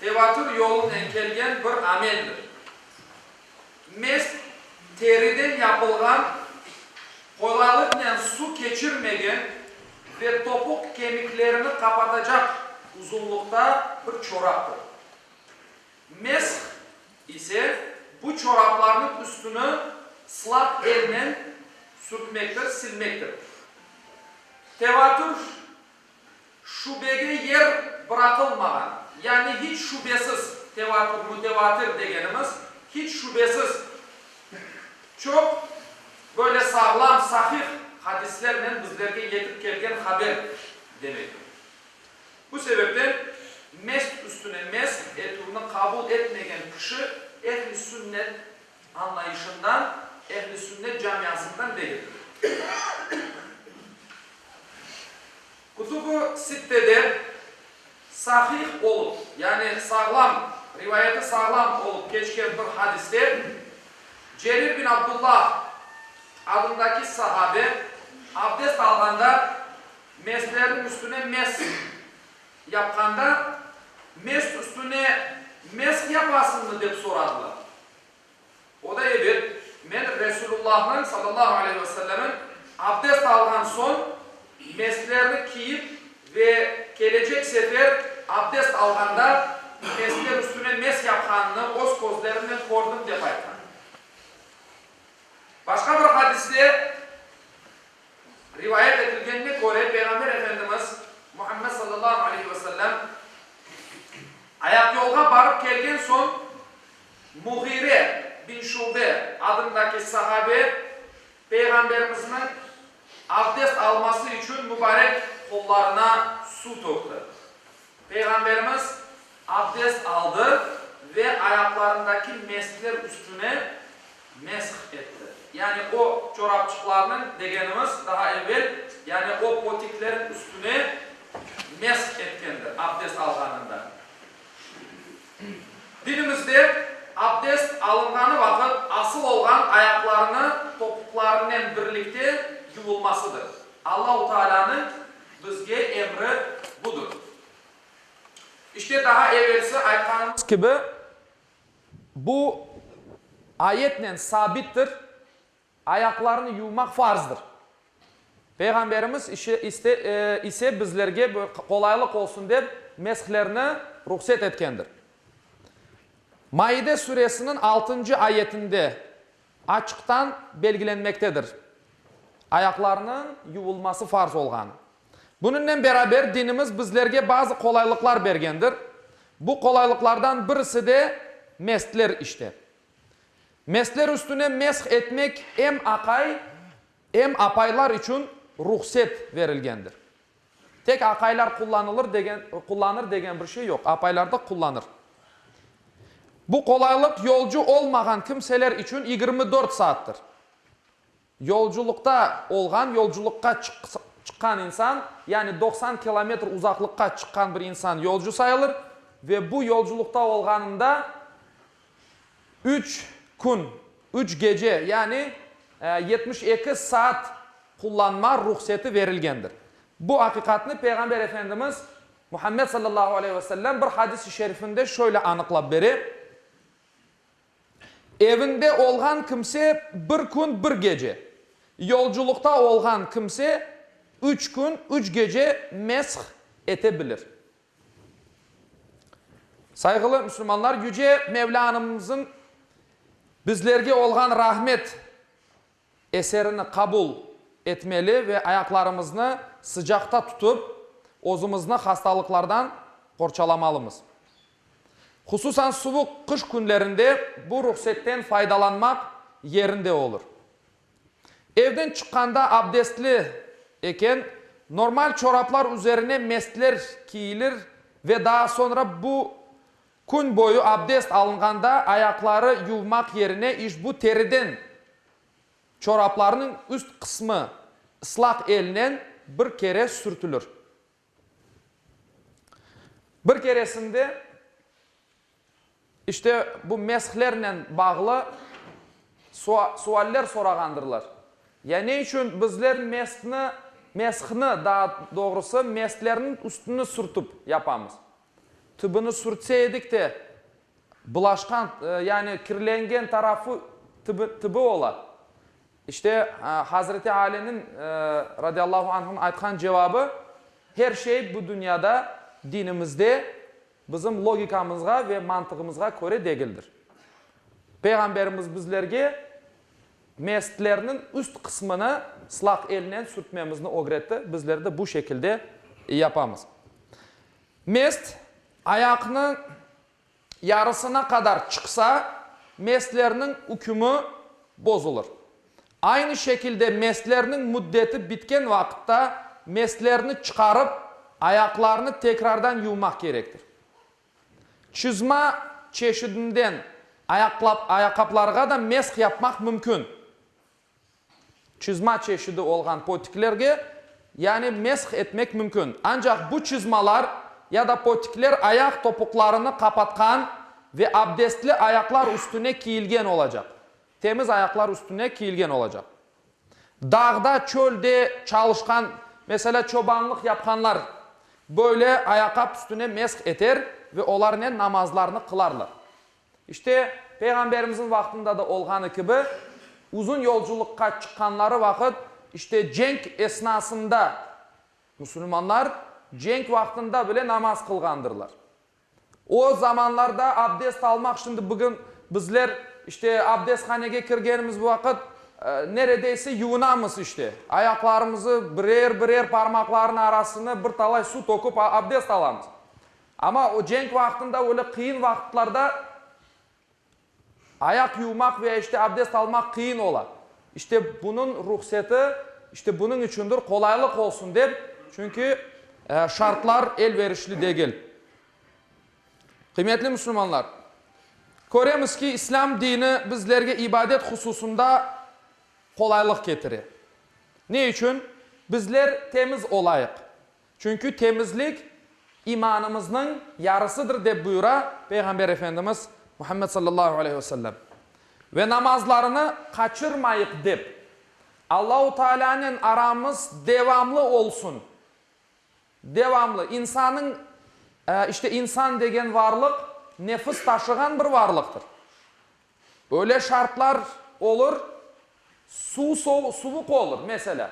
Tevatür yolunen kelgen bir ameldir. Mest teriden yapılğan, qolalıqnen su keçirmegen ve topuq kemiklerini qapatacaq uzunlıqta bir çoraptır. Mesh ise bu çoraplarnıñ üstüni slap elnen sürtmektir, silmektir. Tevatür Şübege yer bıraqılmağan, yani hiç şübesiz, tevatür, mütevatir degenimiz, hiç şübesiz, çoq böyle sağlam, sahih hadislernen bizlerge yetip kelgen haber demektir. Bu sebepten mest üstüne mest etüvni qabul etmegen kişi ehli sünnet anlayışından, Ehl-i Sünnet camiasından degildir. Kütüb-i Sittede sahih olup, yani sağlam, rivayeti sağlam olup keçken bir hadiste Cerir bin Abdullah adındaki sahabe abdest alğanda meslerniñ üstüne mes Yapqanda, mesk üstüne mesk yapasıñmı? dep soradılar. O da, Ebet, men Resulullahnıñ, sallallahu aleyhi ve sellemniñ, abdest alğan soñ, mesklerni kiyip ve kelecek sefer abdest alğanda meskler üstüne mesk yapqanını öz közlerimnen kördim, dep aytqan. Başqa bir hadiste. Rivayet etilgenine köre, Peyğamber Efendimiz Muhammed sallallahu aleyhi ve sellem ayaqyolğa barıp kelgen soñ, Muğire bin Şube adındaki sahabe Peyğamberimizniñ abdest alması içün mübarek qollarına suv tökti. Peyğamberimiz abdest aldı ve ayaqlarındaki mesler üstüne mesh etti. Yani o çorapçıqlarnıñ, degenimiz, daha evel, yani o potiklerin üstüne mesh etkendir abdest alğanında. Dinimizde abdest alınğanı vaqıt asıl olğan ayaqlarını topuqlarınen birlikte yuvulmasıdır. Allahu Taalânıñ Bizge emri budur. İşte, daha evelsi aytqanımız kibi, bu ayetnen sabittir, ayaqlarını yuvmaq farzdır. Peyğamberimiz işe iste ise bizlerge qolaylıq olsun dep meshlerni ruhset etkendir. Maide suresiniñ altıncı ayetinde Açıqtan belgilenmektedir. Ayaqlarnıñ yuvulması farz olğan. Bunıñnen beraber dinimiz bizlerge bazı qolaylıqlar bergendir. Bu qolaylıqlardan birisi de mestler işte. Mestler üstüne mesh etmek em aqay, em apaylar içün ruhset verilgendir. Tek aqaylar qullanılır degen, qullanır degen bir şey yoq. Apaylar da qullanır. Bu qolaylıq yolcu olmağan kimseler içün yigirmi dört saattir. Yolculuqta olğan, yolculuqqa çıqq, çıqqan insan, yani doqsan kilometr uzaqlıqqa çıqqan bir insan yolcu sayılır ve bu yolculuqta olğanında Üç kün, üç gece, yani yetmiş eki saat qullanma ruhseti verilgendir. Bu aqiqatnı Peyğamber Efendimiz Muhammed sallallahu aleyh ve sellem bir hadis-i şerifinde şöyle anıqlap bere, Evinde olğan kimse bir kün, bir gece, yolculıqta olğan kimse üç kün, üç gece mesh ete bilir. Sayğılı müslümanlar, Yüce Mevlanımızıñ Bizlerge olğan rahmet eserini qabul etmeli ve ayaqlarımıznı sıcaqta tutıp, özümizni hastalıqlardan qorçalamalımız. Hususan suvuq qış künlerinde bu ruhsetten faydalanmaq yerinde olur. Evden çıqqanda abdestli eken, normal çoraplar üzerine mestler kiyilir ve daa soñra bu kün boyu abdest alınğanda ayaqları yuvmaq yerine işbu teriden çoraplarnıñ üst qısmı ıslaq elnen bir kere sürtülür. Bir keresinde, işte, bu meshlernen bağlı sua, sualler sorağandırlar. Ya ne içün bizler meshni, meshni, daa doğrusı, meshlerniñ üstüni sürtip yapamız? Tübüni sürtse edik de, bulaşqan, yani kirlengen tarafı tübi, tübi ola. İşte, Hazreti Aliniñ, radiallahu anhun, aytqan cevabı, Her şey bu dünyada, dinimizde, bizim logikamızğa ve mantığımızğa köre degildir. Peyğamberimiz bizlerge mestlerniñ üst qısmını slaq elnen sürtmemizni ögretti, bizler de bu şekilde yapamız. Mest, ayaqnı. yarısına qadar çıqsa, meslerniñ ükümi bozulır. Aynı şekilde meslerniñ müddeti bitken vaqıtta meslerni çıqarıp, ayaqlarnı tekrardan yuvmaq kerektir. Çızma çeşidinden ayaqaplarğa da mesh yapmaq mümkün. Çizma çeşidi olğan potiklerge, yani mesh etmek mümkün. Ancaq bu çizmalar ya da potikler ayaq topuqlarını qapatqan ve abdestli ayaqlar üstüne kiyilgen olacaq, temiz ayaqlar üstüne kiyilgen olacaq. Dağda, çölde çalışqan, meselâ, çobanlıq yapqanlar böyle ayaqap üstüne mesh eter ve olarnen namazlarını qılarlar. İşte, Peyğamberimizniñ vaqtında da olğanı kibi, uzun yolculıqqa çıqqanları vaqıt, işte, cenk esnasında, musulmanlar cenk vaqtında bile namaz qılğandırlar. O zamanlarda abdest almaq, şimdi bugün bizler, işte, abdesthanege kirgenimiz vaqıt, neredeyse yuvunamız, işte, ayaqlarımızı birer-birer parmaqlarnıñ arasına bir talay suv töküp abdest alamız. Amma o cenk vaqtında, öyle qıyın vaqıtlarda ayaq yuvmaq veya işte abdest almaq qıyın ola. İşte bunıñ ruhseti, işte bunıñ içündir, qolaylıq olsun dep, çünki şartlar elverişli degil. Qıymetli müsülmanlar, köremiz ki, İslâm dini bizlerge ibadet hususında qolaylıq ketire. Ne içün? Bizler temiz olayıq. Çünki temizlik imanımıznıñ yarısıdır, dep buyura Peyğamber Efendimiz Muhammed sallallahu aleyhi ve sellem. Ve namazlarını qaçırmayıq, dep, Allahu Taalânen aramız devamlı olsun, devamlı, insannıñ, işte, insan degen varlıq nefis taşığan bir varlıqtır. Öyle şartlar olur, suv sovu, suvuq olur, meselâ,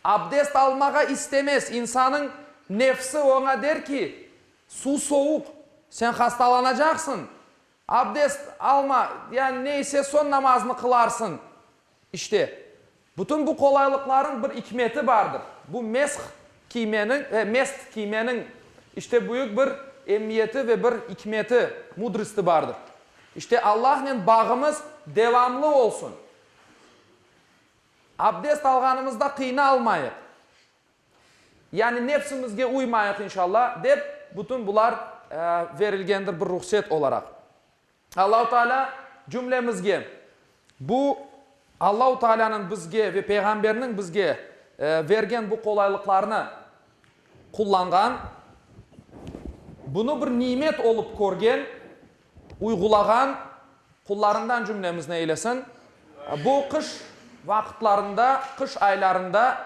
abdest almağa istemez, insanıñ nefsi oña der ki, suv sovuq, sen hastalanacaqsıñ, abdest alma, yani neyse, soñ namazını qılarsıñ. İşte, bütün bu qolaylıqlarnıñ bir ikmeti bardır. Bu mesh kiymeniñ, e, mest kiymeniñ, işte, büyük bir emmiyeti ve bir ikmeti, mudrısti bardır. İşte, Allahnen bağımız devamlı olsun. Abdest alğanımızda qıynalmayıq. Yani nefsimizge uymayıq, inşalla, dep, bütün bular, e, verilgendir bir ruhset olaraq. Allahu Teala cümlemizge bu Allahu Teala'nıñ bizge ve Peyğamberniñ bizge bergen bu qolaylıqlarnı qullanğan, bunı bir nimet olıp körgen, uyğulağan qullarından cümlemizni eylesin. Bu qış vaqıtlarında, qış aylarında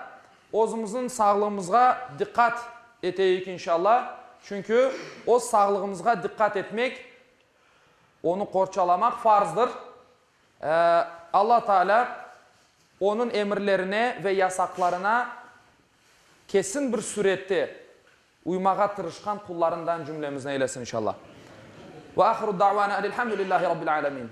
özümizniñ sağlığımızğa diqqat eteyik inşallah. Çünki öz sağlığımızğa diqqat etmek Onı qorçalamaq farzdır. Alla Taalâ Onıñ emirlerine ve yasaqlarına kesin bir sürette uymağa tırışqan qullarından cümlemizni eylesin inşalla. Ve ahiru davana enilhamdülillâhi Rabbil âlemin.